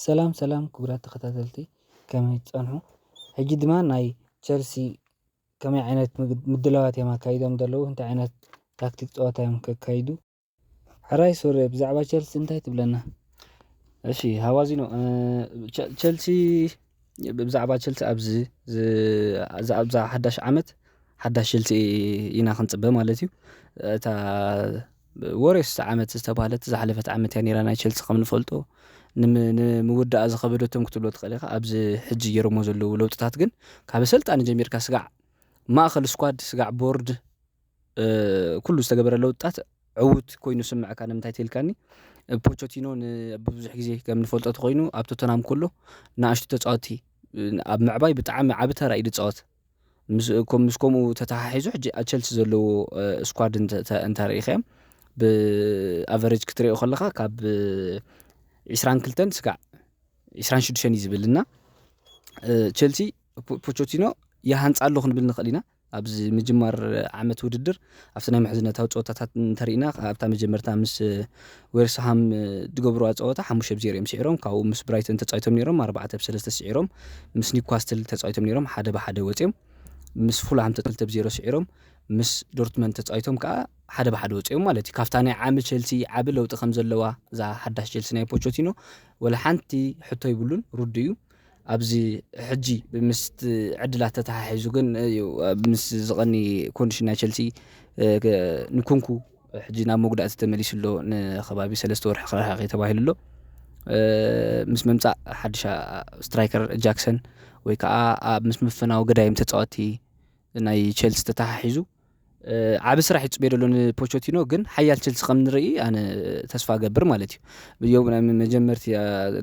ሰላም ሰላም ክቡራት ተኸታተልቲ ከመይ ትጸንሑ? ሕጂ ድማ ናይ ቸልሲ ከመይ ዓይነት ምድላዋት እዮም ኣካይዶም ዘለዉ እንታይ ዓይነት ታክቲክ ፀወታ እዮም ከካይዱ ሕራይ ሱሬ ብዛዕባ ቸልሲ እንታይ ትብለና? እሺ ሃዋዚኖ ቸልሲ ብዛዕባ ቸልሲ ኣብዚ ኣብዛ ሓዳሽ ዓመት ሓዳሽ ቸልሲ ኢና ክንፅበ ማለት እዩ እታ ወርዮስ ዓመት ዝተባህለት ዝሓለፈት ዓመት እያ ኔራ ናይ ቸልሲ ከም ንፈልጦ ንምውዳኣ ዝኸበደቶም ክትብሎ ትኽእል ኢኻ ኣብዚ ሕጂ ገይሮሞ ዘለዉ ለውጥታት ግን ካብ ኣሰልጣኒ ጀሚርካ ስጋዕ ማእኸል ስኳድ ስጋዕ ቦርድ ኩሉ ዝተገበረ ለውጥታት ዕዉት ኮይኑ ስምዐካ ንምንታይ ትልካኒ ፖቾቲኖ ብዙሕ ግዜ ከም ንፈልጦ ተኮይኑ ኣብ ቶተናም ከሎ ንኣሽቱ ተፃወቲ ኣብ ምዕባይ ብጣዕሚ ዓብ ተራ እዩ ዝፃወት ምስ ከምኡ ተተሓሒዙ ሕጂ ኣብ ቸልሲ ዘለዎ ስኳድ እንተሪኢኻዮ ብኣቨሬጅ ክትሪኦ ከለኻ ካብ ዕስራን ክልተን ስጋዕ ዕስራን ሽዱሽተን እዩ ዝብል እና ቸልሲ ፖቾቲኖ ይሃንፃ ኣሎ ክንብል ንኽእል ኢና ኣብዚ ምጅማር ዓመት ውድድር ኣብቲ ናይ ምሕዝነታዊ ፀወታታት እንተሪእና ኣብታ መጀመርታ ምስ ዌርስሃም ዝገብርዋ ፀወታ ሓሙሽተ ብ ዜሮ እዮም ስዒሮም ካብኡ ምስ ብራይተን ተፃዊቶም ነይሮም ኣርባዕተ ብ ሰለስተ ስዒሮም ምስ ኒውካስትል ተፃዊቶም ነይሮም ሓደ ብሓደ ወፂኦም ምስ ፉልሃም ተጠልተ ብዜሮ ስዒሮም ምስ ዶርትመን ተፃዊቶም ከዓ ሓደ ብሓደ ወፂኦም ማለት እዩ ካብታ ናይ ዓሚ ቸልሲ ዓቢ ለውጢ ከም ዘለዋ እዛ ሓዳሽ ቸልሲ ናይ ፖቾቲኖ ወላ ሓንቲ ሕቶ ይብሉን ርዱ እዩ ኣብዚ ሕጂ ምስቲ ዕድላት ተተሓሒዙ ግን እዩ ምስ ዝቐኒ ኮንዲሽን ናይ ቸልሲ ንኩንኩ ሕጂ ናብ መጉዳእቲ ተመሊሱ ኣሎ ንከባቢ ሰለስተ ወርሒ ክረሓቂ ተባሂሉ ኣሎ ምስ ምምፃእ ሓድሽ ስትራይከር ጃክሰን ወይ ከዓ ምስ ምፍናው ገዳይም ተፃወቲ ናይ ቸልሲ ተተሓሒዙ ዓብ ስራሕ ይፅበ ደሎ ንፖቾቲኖ ግን ሓያል ቸልሲ ከም ንርኢ ኣነ ተስፋ ገብር ማለት እዩ ዮ ናይ መጀመርቲ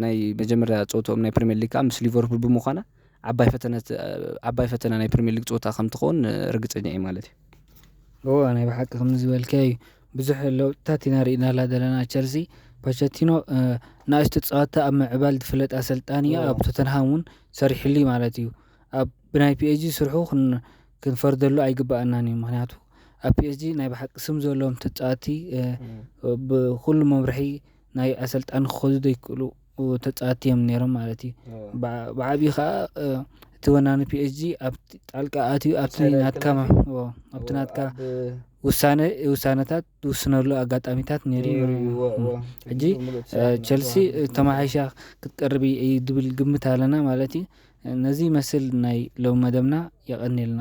ናይ መጀመርያ ፀወትኦም ናይ ፕሪሚየር ሊግ ከዓ ምስ ሊቨርፑል ብምዃና ዓባይ ፈተነት ዓባይ ፈተና ናይ ፕሪሚየር ሊግ ፀወታ ከም ትኸውን ርግፀኛ እዩ ማለት እዩ እዎ ናይ ብሓቂ ከም ዝበልከ እዩ ብዙሕ ለውጥታት ኢና ርኢናላ ዘለና ቸልሲ ፖቸቲኖ ንእሽቶ ፀወታ ኣብ ምዕባል ዝፍለጥ ኣሰልጣኒ እዩ ኣብ ቶተንሃም እውን ሰሪሕሉ ማለት እዩ ኣብ ብናይ ፒኤችዲ ስርሑ ክንፈርደሉ ኣይግበኣናን እዩ ምክንያቱ ኣብ ፒኤችዲ ናይ ብሓቂ ስም ዘለዎም ተፃወቲ ብኩሉ መምርሒ ናይ ኣሰልጣኒ ክኸዱ ዘይክእሉ ተፃወቲ እዮም ነይሮም ማለት እዩ ብዓብዪ ከዓ እቲ ወናኒ ፒኤችዲ ኣብ ጣልቃ ኣትዩ ኣብቲ ናትካ ኣብቲ ናትካ ውሳነ ውሳነታት ዝውስነሉ ኣጋጣሚታት ነይሩ እዩ ሕጂ ቸልሲ ተማሓይሻ ክትቀርብ እዩ ዝብል ግምት ኣለና ማለት እዩ ነዚ ይመስል ናይ ሎም መደብና የቐኒልና